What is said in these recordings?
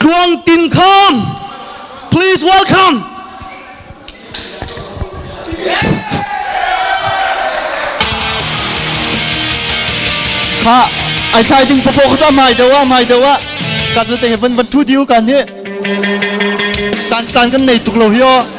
Tluang Tin Kham please welcome kha ai thlai ding pako kha mai dewa mai dewa kan sa te van van thu diu kan ni tan tan kan nei tuk lo hi o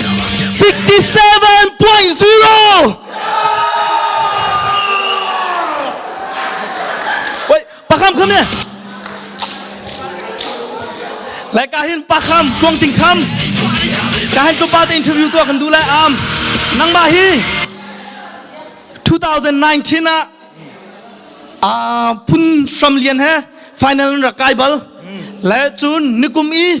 57.0 Wait, pakam come here. Lai ka hin pakam tuang ting kham. Ka hin tu pa te interview tu kan du lai am. Nang ba hi 2019 a a phun sam lian he final ra kai bal. Le chun nikum i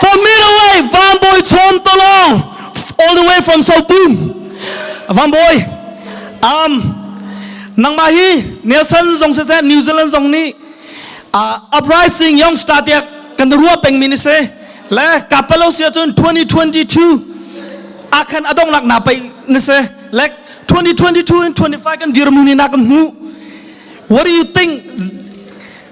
For me the way, Van Boy Chom Tolong, all the way from Sotun. Van Boy, um, nangmah hi Nelson zong se New Zealand zong nih uh, uprising young star te kan ruwa pengmi ni se le kapalo sia chun 2022 akhan adong lak na pai ni se like 2022 and 25 kan dirmu ni na kan hu what do you think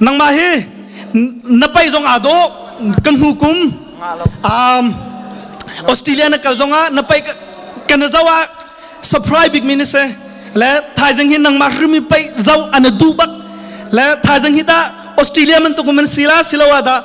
nangmah hi na paih zong aa dawh kan hnu kum um, australia na kal zong ah na paih kan na zau ah surprise bik mi ni se le thaizing hi nangmah hrimi paih zau ana du bak le thaizing hi ta australia man tukum man sila siloa da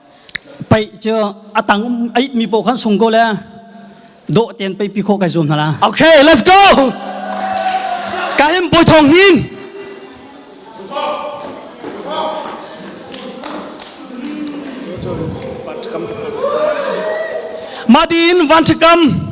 Pei cu atang um ait mi poh khan sung ko le do ten pei pi kho kai zuam hna la. Okay, let's go. Ka him boi thong hin. Madin van to come.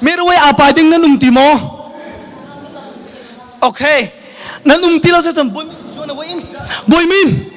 Mirway apai ding nan um ti maw? Okay. Nan um ti lo se cun bun yuan away in. Boy min.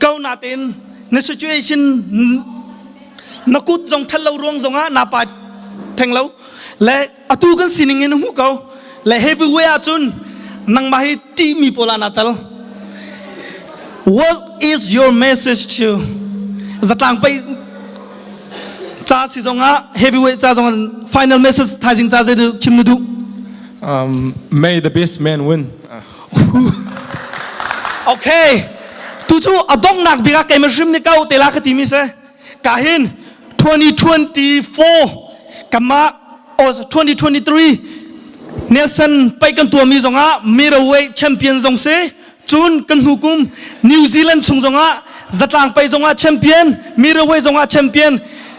ko natin na situation na kut zong ṭhat lo ruang zong ah na pa theng lo le atu kan sining in hmu ko le heavyweight ah cun nangmah hi ṭihmi pawl ah na tal what is your message to zatlang pei ca si zong ah heavyweight ca zong ah final message thaizing ca zei chim na duh Um, may the best man win. Okay. Tu cu a donghnak bik ah keimah hrim nih kau te la ka ti mi se. Ka hin 2024 kama oh 2023 Nelson pai kan tua mi zong ah Miraway champion zong se cun kan hnu kum New Zealand chung zong ah zatlang pai zong ah champion Miraway zong ah champion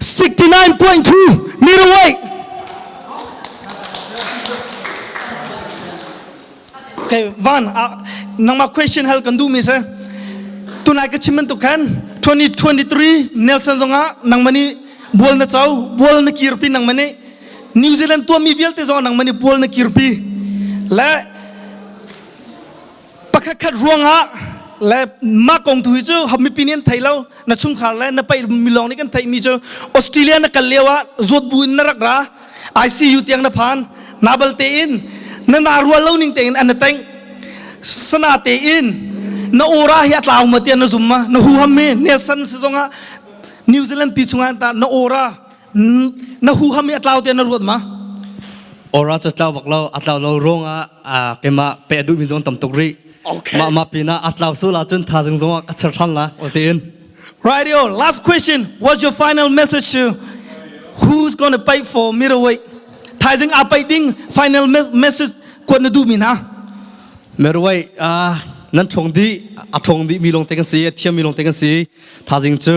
69.2 middleweight. Okay, Van, uh, nangma question hal kan du mi se. Tunai ka chimin tu khan 2023 Nelson zonga nangmani bual na chau bual na kirpi nangmani New Zealand tuanmi vialte zong nangman i bual na kirpi le pakhat khat ruangah le mah kong tu hi cu mipi nih an thei lo na chungkhar le na paih milawng nih kan theihmi cu Australia na kal lio ah zawt bu in na rak ra ICU tiang na phan nabal te in na na rual lo ning tein an na teng sana te in na ora hi a tlau ma tian na zum ma na hu ham mi nesan si zong ah New Zealand pi chungah ta na ora na huham i atlau tein na ruat ma ora cha tlau bak lo atlau lo rong ah kema pe duh mi zong tam tuk ri ma ma pina atlau so la chun tha jing zong a char thang la otin rightio last question what's your final message to who's going to pay for mirror weight thaizing a pai ding final message kuat na du mi na merwai a nan thong di a thong di mi long te kan si a thiam mi long te kan si thazing chu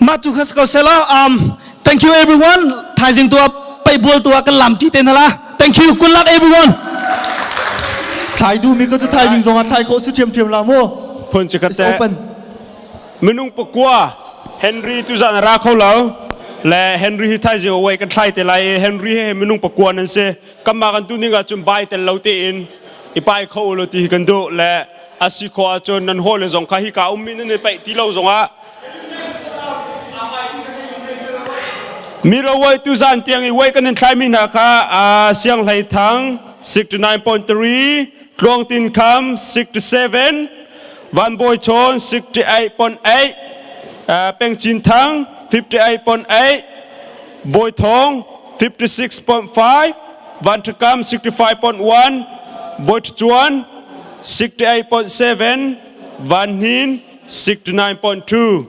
mah tu kha ko sela um thank you everyone thaizing tu pai bual tu kan lam ti te na la thank you good luck everyone thai du mi ko tu thai ding zong ah thai ko su thiam thiam la mu phun chi kate minung pakwa henry tu zan ra kho lo le henry hi thai ji wei kan thlai te lai henry he minung pakwa nan se kanmah kan tuning ahcun bai tel lo tein i pai kho ulaw ti hi kan duh le a si khawh ahcun nan hawile zong kha hika ummi nan i paih ti lo zongah mi ro uaitu zan tiang i uai kan in thlaimi hna kha a siang hlei thang 69.3 tluang tin kham 67 van boi chon 68.8 peng chin thang 58.8 Bawi Thawng 56.5 Vanṭhakam 65.1 Bawi Ṭhacuan 68.7 Van Hnin 69.2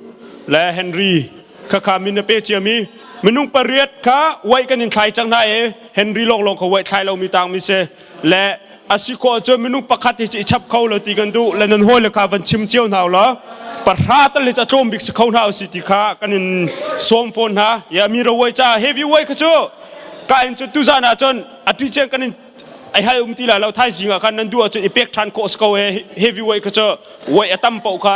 le Henry khakha min na pe ciami minung pariat kha waih kan in thlai cang hna i Henry lawnglawng kha waih thlai lomi tangmi si le a si ko ahcun minung pakhat hi cu i chap kho lo ti kan duh le nan hawile kha van chim cio hna ulaw pahra tal hi cu a tlawm bik si kho hna usih ti kha kan in sawm fawn hna ya mi rawai ca heavyweight kha cu ka in cu tuzan ah cun a ti chen kan in ai hal um ti la lo thaizing ah khan nan du ahcun i pek ṭhan khawh si ko he heavyweight kha cu weight a tam poh kha